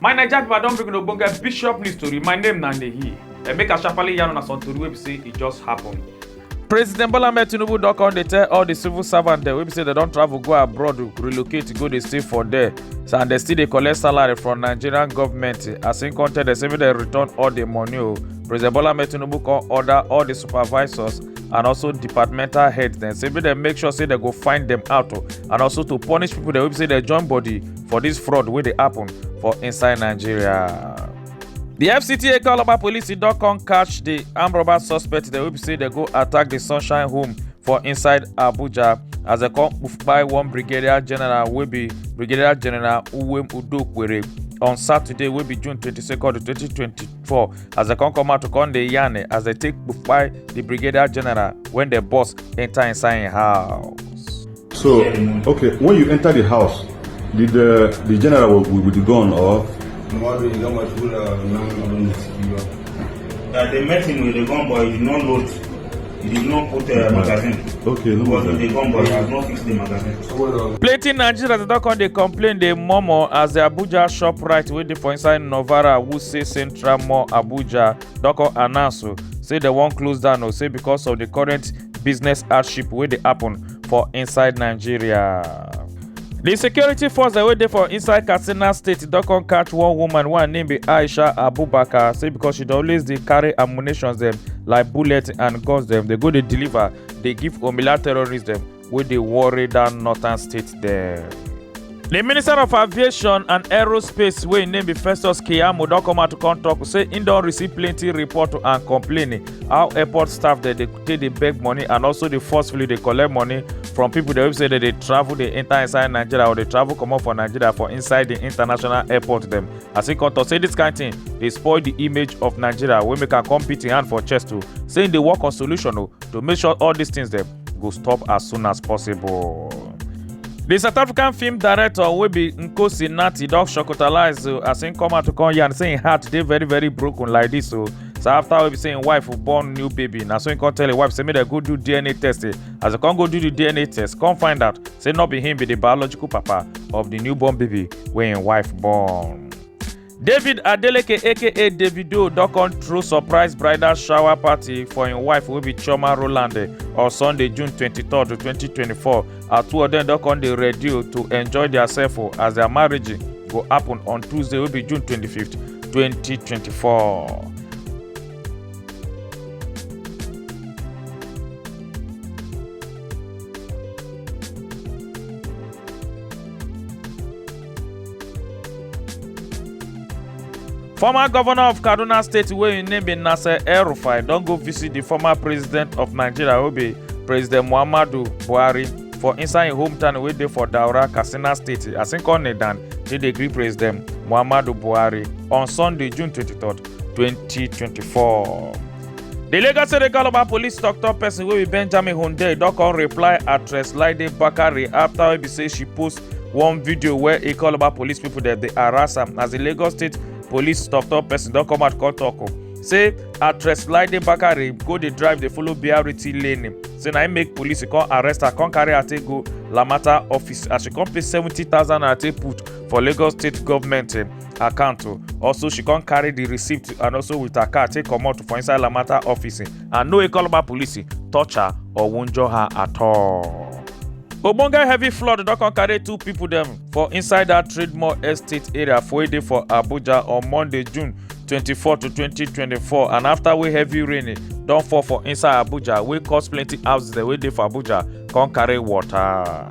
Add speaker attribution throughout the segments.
Speaker 1: My Naija people don bring una ogbonge bishop news tori. My name na Nehi. Eh, make I sharply yarn una some tori wey be say e just happen. President Bola Ahmed Tinubu don come dey tell all the civil servants dem wey be say dem don travel go abroad to relocate go dey stay for there so, and dem still dey collect salary from Nigerian government as im come tell dem say make dem return all the money o. President Bola Ahmed Tinubu come order all the supervisors and also departmental heads dem say make dem make sure say dem go find dem out o and also to punish people dem wey be say dem join body for this fraud wey dey happen for inside nigeria. The FCTA Calabar police don come catch the armed robber suspect dem wey be say dem go attack the Sunshine Home for inside Abuja as dem come kpai one brigadier general wey be Brigadier General Uwem Udokwere on Saturday wey be June 22nd, 2022. for as dem come come out to come dey yarn eh, as dem take kpai the brigadier general when the boss enter inside im house. So, okay, when you enter the house, did the, the general with, with the gun or? Mmadụ ị gama tura nan abin da suke ba. Da they met him with the gun boy, he did not load. plenty nigerians don come dey complain dey murmur as di abuja shoprite wey dey for inside novara wuse central mall abuja don come announce o say dem wan close down o say because of di current business hardship wey dey happen for inside nigeria. di security force wey dey for inside katsina state don come catch one woman wey her name be aisha abubakar say because she dey always dey carry ammunitions dem like bullets and guns dem dey go dey deliver dey give omila terrorists dem wey dey worry dat northern state dem. di minister of aviation and aerospace wey im name be festus keyamo don come out to come tok say im don receive plenty report and complain how airport staff dey dey take dey beg money and also dey forcefully dey collect money from people dem wey be say dey dey travel dey enter inside nigeria or dey travel comot for nigeria for inside di international airport dem as e come tok say dis kain tin dey spoil di image of nigeria wey make am come beat im hand for chest o say im dey work on solution o to make sure all dis tins dem go stop as soon as possible. di south african film director wey be nkosi nati don shocktalize o as im come out to come yarn say im heart dey very very broken like dis o so after we be saying wife will born new baby na so he come tell him wife say make dem go do dna test eh as they come go do the dna test come find out say no be him be the biological papa of the newborn baby wey him wife born. david adeleke aka davido don come throw surprise bridal shower party for im wife wey be chioma roland eh, on sunday june twenty three twenty twenty four as two of dem don come dey ready o to enjoy their self o as their marriage go happen on tuesday wey be june 25th 2024. former governor of kaduna state wey im name be nasser el-rufai don go visit di former president of nigeria wey be president muhammadu buhari for inside im hometown wey dey for daura katsina state as im come kneel down take dey greet president muhammadu buhari on sunday june 23 2024. di lagos state calabar police tok-tok pesin wey be benjamin hunde don come reply actress laide bakare afta wey be say she post one video where he call about police people that they harass him as the lagos state police top top person don't come out come talk o oh. say actress laide bakare go the drive they follow brt lane say na im make police come arrest her come carry her take go lamata office as she come pay seventy thousand naira take put for lagos state government eh, account o oh. also she come carry the receipt and also with her car take comot for inside lamata office eh. and no Ekologba police touch her or wunjure her at all. ogbonge heavy flood don come carry two pipo dem for inside dat trademore estate area for wey dey for abuja on monday june 24 to 2024 and afta wey heavy rain don fall for inside abuja wey cause plenty houses dem wey dey for abuja come carry water.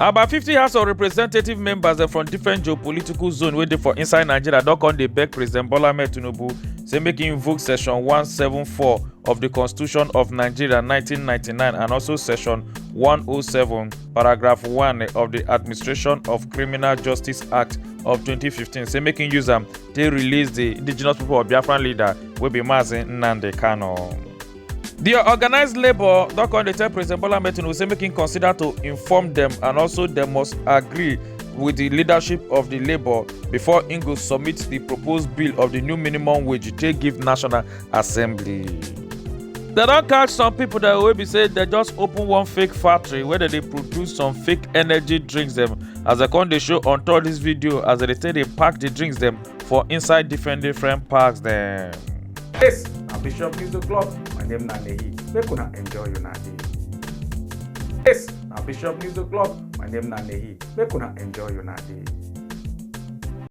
Speaker 1: About 50 House of Representative members dem from different geopolitical zone wey dey for inside Nigeria don come dey beg President Bola Ahmed Tinubu say make he invoke section 174 of the Constitution of Nigeria 1999 and also section 107 paragraph 1 of the Administration of Criminal Justice Act of 2015 say make he use am take release the indigenous people of Biafran leader wey be Mazi Nnamdi Kanu. di organised labour don come dey tell president bola ahmed tinubu say make im consider to inform dem and also dem must agree with di leadership of di labour before im go submit di proposed bill of di new minimum wage take give national assembly. dem don catch some pipo dem wey be say dem just open one fake factory wey dem dey produce some fake energy drinks dem as dem come dey show on top dis video as dem dey take dey pack di drinks dem. for inside different different parks dem. Yes, na Bishop Music Club. My name na Nehi. Make una enjoy una day. Yes, na Bishop Music Club. My name na Nehi. Make una enjoy una day.